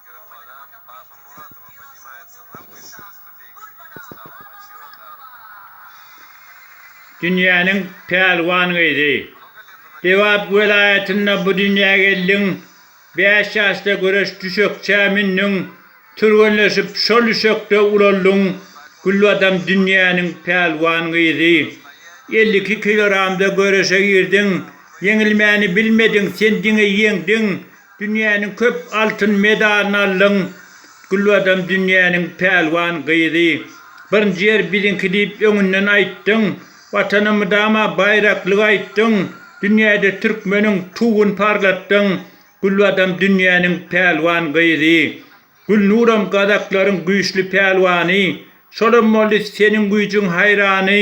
Gürbadan Babymuradowa podnimaýat syrlar güýçli ösdi beýik ilimiz Gawun açýor daragany. Dünýäniň pälwan gyzy. Lebap welaýatynda bu dünýä geldiň, bäş ýaşda göreş düşekçä mündüň, türgenleşip şol düşekde ulaldyň, Gülbadam dünýäniň pälwan gyzy. Elli iki kilogramda göreşe girdiň, ýeňilmäni bilmediň, sen diňe ýeňdiň, Dünýäniň köp altyn medalyny aldyň. Gülbadam dünýäniň pälwan gyzy. Birinji ýer biziňki diýip öňünden aýtdyň. Watana mydama baýraklygy aýtdyň. Dünýäde türkmeniň tugun parlatdyň. Gülbadam dünýäniň pälwan gyzy. Gülnuram gazaklaryň güýçli pälwany. Şolam boldy seniň güýjüň haýrany.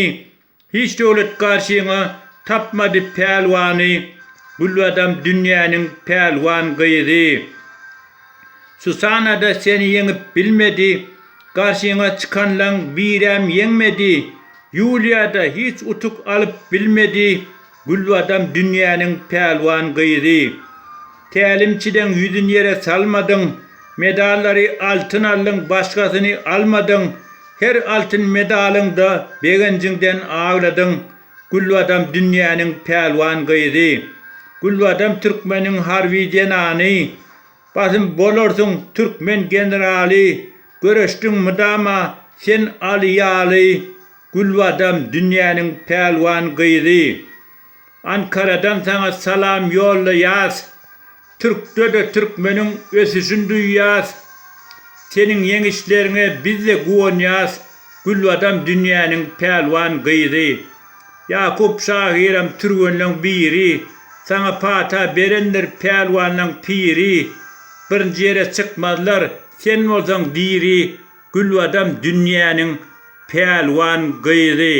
Hiç döwlet garşyňa tapmady pälwany, Gülbadam dünýäniň pälwan gyzy. Susana-da seni ýeňip bilmedi, Garşyňa çykanlaň biräm ýeňmedi, Ýuliýa-da hiç utuk alyp bilmedi, Gülbadam dünýäniň pälwan gyzy. Tälimçideň ýüzün ýere salmadyň. Medallary altyn aldyň, başgasyny almadyň. Her altyn medalyňda begenjiňden agladyň. Gülbadam dünýäniň pälwan gyzy. Gülbadam türkmeniň harby zenany. Basym bolarsyň türkmen generaly Göreşdiň mydama sen Aly ýaly Gülbadam dünýäniň pälwan gyzy Ankaradan saňa salam ýollaýas Türkde-de türkmeniň ösüşin duýýas Seniň ýeňişleriňe bizde guwanýas Gülbadam dünýäniň pälwan gyzy. Ýakup şahyram türgenleň biri, Saňa pata berendir pälwanlaň piri. Birinji ýere çykmazlar, sen bolsaň diri, Gülbadam dünýäniň pälwan gyzy.